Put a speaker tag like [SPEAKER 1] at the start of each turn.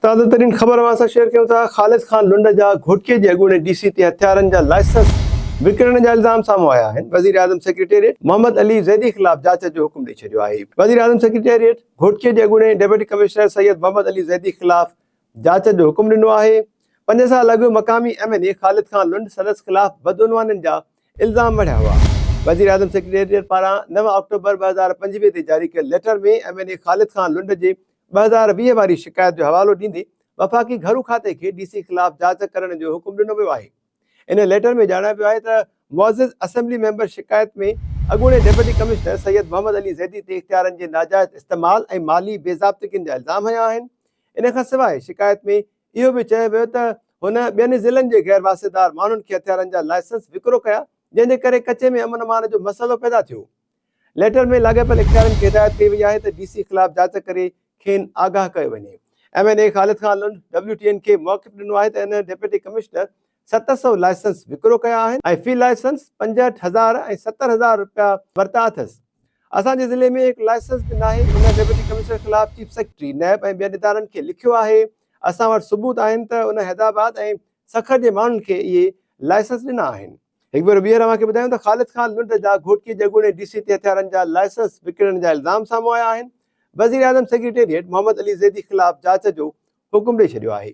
[SPEAKER 1] تازه ترين خبر اوهان سان شيئر ڪيون ٿا خالد خان لنڊ جا گهوٽڪي جي اڳوڻي ڊي سي تي هٿيارن جا لائسنس وڪڻڻ جا الزام سامهون آيا آهن وزيراعظم سيڪريٽريٽ محمد علي زيدي خلاف جاچ جو حڪم ڏئي ڇڏيو آهي وزيراعظم سيڪريٽريٽ گهوٽڪي جي اڳوڻي ڊپٽي ڪمشنر سيد محمد علي زيدي خلاف جاچ جو حڪم ڏنو آهي پنج سال اڳ مقامي M N A Khalid Khan Lund سندس خلاف بدعنوانين جا الزام مڙهيا هئا وزيراعظم سيڪريٽريٽ پاران نو آڪٽوبر ٻه هزار پنجويهه تي جاري ڪيل letter ۾ M N A Khalid Khan Lund جي ٻه هزار ويهه واري شڪايت جو حوالو ڏيندي وفاقي گهرو کاتي کي ڊي سي خلاف جاچ ڪرڻ جو حڪم ڏنو ويو آهي. ان ليٽر ۾ ڄاڻايو ويو آهي ته معزز اسيمبلي ميمبر شڪايت ۾ اڳوڻي ڊپٽي ڪمشنر سيد محمد علي زيدي تي اختيارن جي ناجائز استعمال ۽ مالي بي ضابطگين جا الزام هنيا آهن. ان کان سواء شڪايت ۾ اهو به چيو ويو ته هن ٻين ضلعن جي غير واسطيدار ماڻهن کي هٿيارن جا لائسنس وڪرو ڪيا جنهن جي ڪري ڪچي ۾ امن امان جو مسئلو پيدا ٿيو. ليٽر ۾ لاڳاپيل اختيارين کي هدايت ڪئي وئي آهي ته ڊي سي خلاف جاچ ڪري کين آگاهه ڪيو وڃي. M N A Khalid Khan Lund W T N کي موقف ڏنو آهي ته ان ڊپٽي ڪمشنر ست سؤ لائسنس وڪرو ڪيا آهن ۽ في لائسنس پنجهٺ هزار ۽ ستر هزار رپيا ورتا اٿس، اسان جي ضلعي ۾ هڪ لائسنس به ناهي، ان ڊپٽي ڪمشنر خلاف چيف سيڪريٽري، نيب ۽ ٻين ادارن کي لکيو آهي، اسان وٽ ثبوت آهن ته ان حيدرآباد ۽ سکر جي ماڻهن کي اهي لائسنس ڏنا آهن. هڪ ڀيرو ٻيهر اوهان کي ٻڌايون ته خالد خان لنڊ جا گهوٽڪي جي اڳوڻي ڊي سي تي هٿيارن جا لائسنس وڪڻڻ جا الزام سامهون آيا آهن، وزيراعظم سيڪريٽريٽ محمد علي زيدي خلاف جاچ جو حڪم ڏئي ڇڏيو آهي.